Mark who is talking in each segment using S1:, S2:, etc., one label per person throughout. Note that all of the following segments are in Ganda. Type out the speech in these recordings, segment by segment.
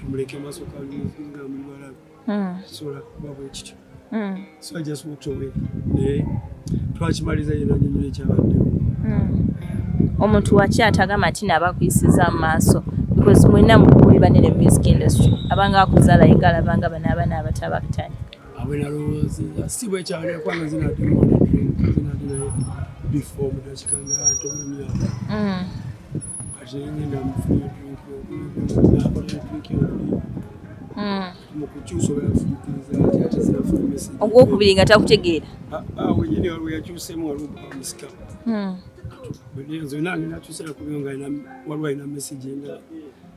S1: tumuleke maso kalinga mulibala hmm. sola babo ekityo hmm. so i just walked away naye twakimaliza yena nyonyola ekyabaddewo hmm.
S2: omuntu waki atagamba nti nabakuyisiza amaaso because mwena mukuli banene music industry abanga akuzala inga alabanga bana abana abatabakutandika abwe
S1: nalowoozinza si bwekyalira kubanga zinadinadinayo bifo mudakika nga tomunya mm. kati ngenda mufuna ogwokubiri nga takutegeera
S2: ah, ah, wenyini waliwo
S1: yakyusemu waliwo musika hmm. zonna ngenda kyusera kubyo nga waliwo alina message endala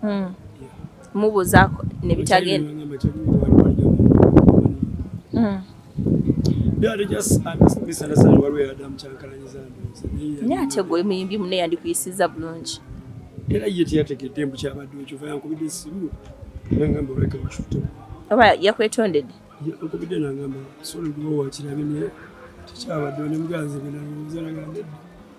S1: hmm.
S2: mubuuzaako ne bitagenda hmm. naye ate gwe muyimbi mune yandikuyisiza bulungi era ye
S1: teyategedde mbu kyabadde okyova yankubidde esimu nangamba oleka wakifute oba
S2: yakwetondedde yankubidde
S1: nangamba solo gwe wakirabye naye tekyabadde onemuganzi benalowooza nagambedde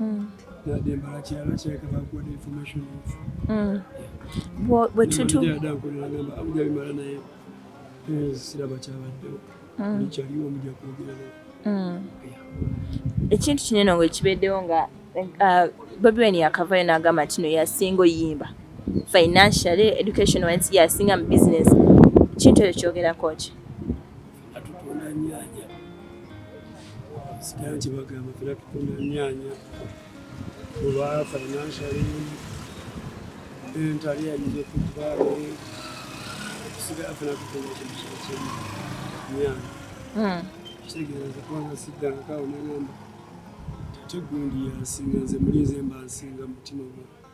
S1: mm. nadde mbala kirala kireka bakuwa information mm. bwetutubimala naye eh, siraba kyabaddewo mm. kyaliwo muja kwogera mm.
S2: ekintu kinene nga ekibeddewo nga uh, bobi wen yakavayo nagamba ntino yasinga oyimba financially education wise yasinga mu business kintu ekyo kyogerako ki atutunda
S1: nyanya sikira nti bagamba fena tutunda nyanya olwa financially entali yayinza okuba tusigala fena tutunda kintu kyekimu nyanya hmm. kitegeeza kubanga siddangako awo nagamba ate gundi yansinga nze mulinze mba nsinga mutima gwange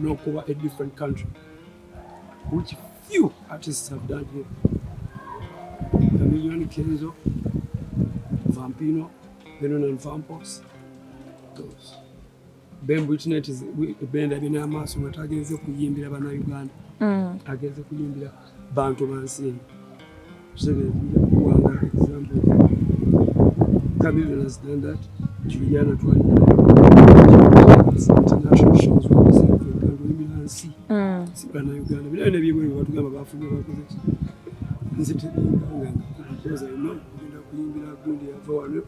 S1: n'okuba a different country which few artists have done here Chameleone Kenzo Vampino Venon and Vampos those Ben Britney is benda binamaaso nga tagenze kuyimbira bana Uganda mm. agenze kuyimbira bantu bansi eyo kuwanga example Cameroon done that Juliana twalina international shows wakuzikandolimira nsi sibana Uganda binayo nebyebweru batugamba bafunye bakoze nze tebinganga because I know ogenda kuyimbira gundi yava wano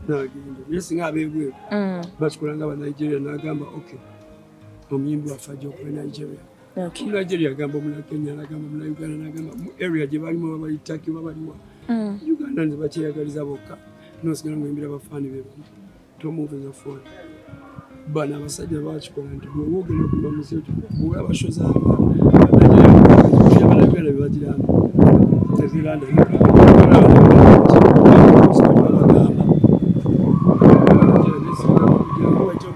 S1: nagenda naye singa abebweru bakikolanga ba Nigeria nagamba okay omuyimbi waffe ajja okuba Nigeria Okay. Mulaje byagamba mula Kenya nagamba mula Uganda nagamba mu area gye bali mu bali Turkey bali wa. Mm. Uganda nze bakyeyagaliza bokka. No sigala ngembira bafani be. To move in the phone. Bana abasajja bakikola nti bwe wogera ku bamuseo bwe abashoza abajja bagira teziranda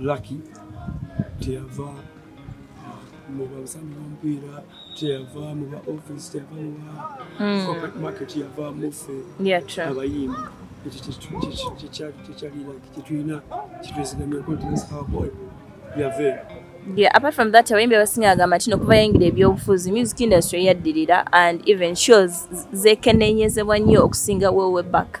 S1: Lucky teyava mu babusambi bomupiira teyava mu ba office teyava mu ba hmm. corporate market yava muffe abayimbi kyetulina kyetwezigamya continence our boy yave Yeah, apart
S2: from that abayimbi abasinga agamba nti nokuva yayingira ebyobufuzi music industry yaddirira and even shows zekenenyezebwa nnyo okusinga wewe back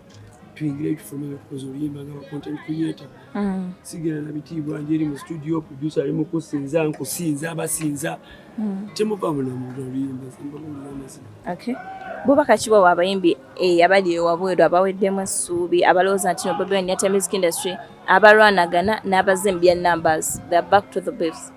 S1: tuyingire ebifumu ebyokukoza oluyimba nga bacontent creator mm. sigera na bitiibwa nje eri mu studio producer ali mu kusinza nkusinza abasinza mm. temuva munamuga oluyimba simbamulamazima
S2: okay bubaka kiwa wabayimbi eh, abali ewabweru abaweddemu essuubi abalowooza nti no bobi wine yata music industry abalwanagana n'abazze mu bya numbers the back to the base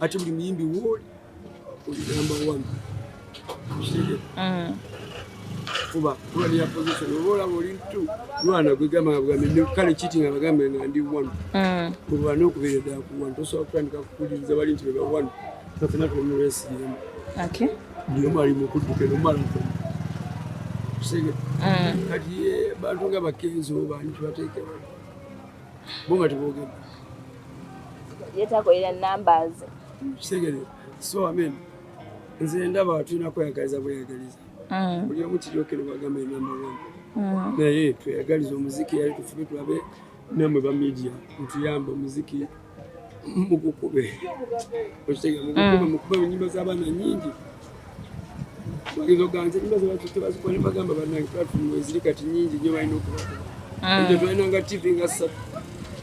S1: ate buli muyimbi wooli olinamba wanu mm. kuba kuba niya position oba olaba oli tu lwana gwegamba nga bugambe ne kale kiti nga bagambe nga ndi wanu mm. olwana okubeera ddala ku wanu tosobola kutandika kukuliriza bali nti beba wanu nafena tumuwesiyemu buli
S2: omu ali
S1: mukudduka eno omala mm. kati bantu nga bakenzi oba nti bateekewa bo nga tebogedde
S2: yetakolera numbers kitegere
S1: so amen nze ndaba tulina kweyagaliza bweyagaliza mm. buli omu kiryokere bagamba enamba one mm. naye tweyagaliza omuziki yali tufube tulabe namwe ba media ntuyamba omuziki mugukube okitegere mugukube mm. mukube enyimba z'abaana nyingi bagezoganze nyumba zebatute bazikuba nebagamba banange platform eziri kati nyingi nyo balina okubakuba mm. ejo twalinanga tv nga ssatu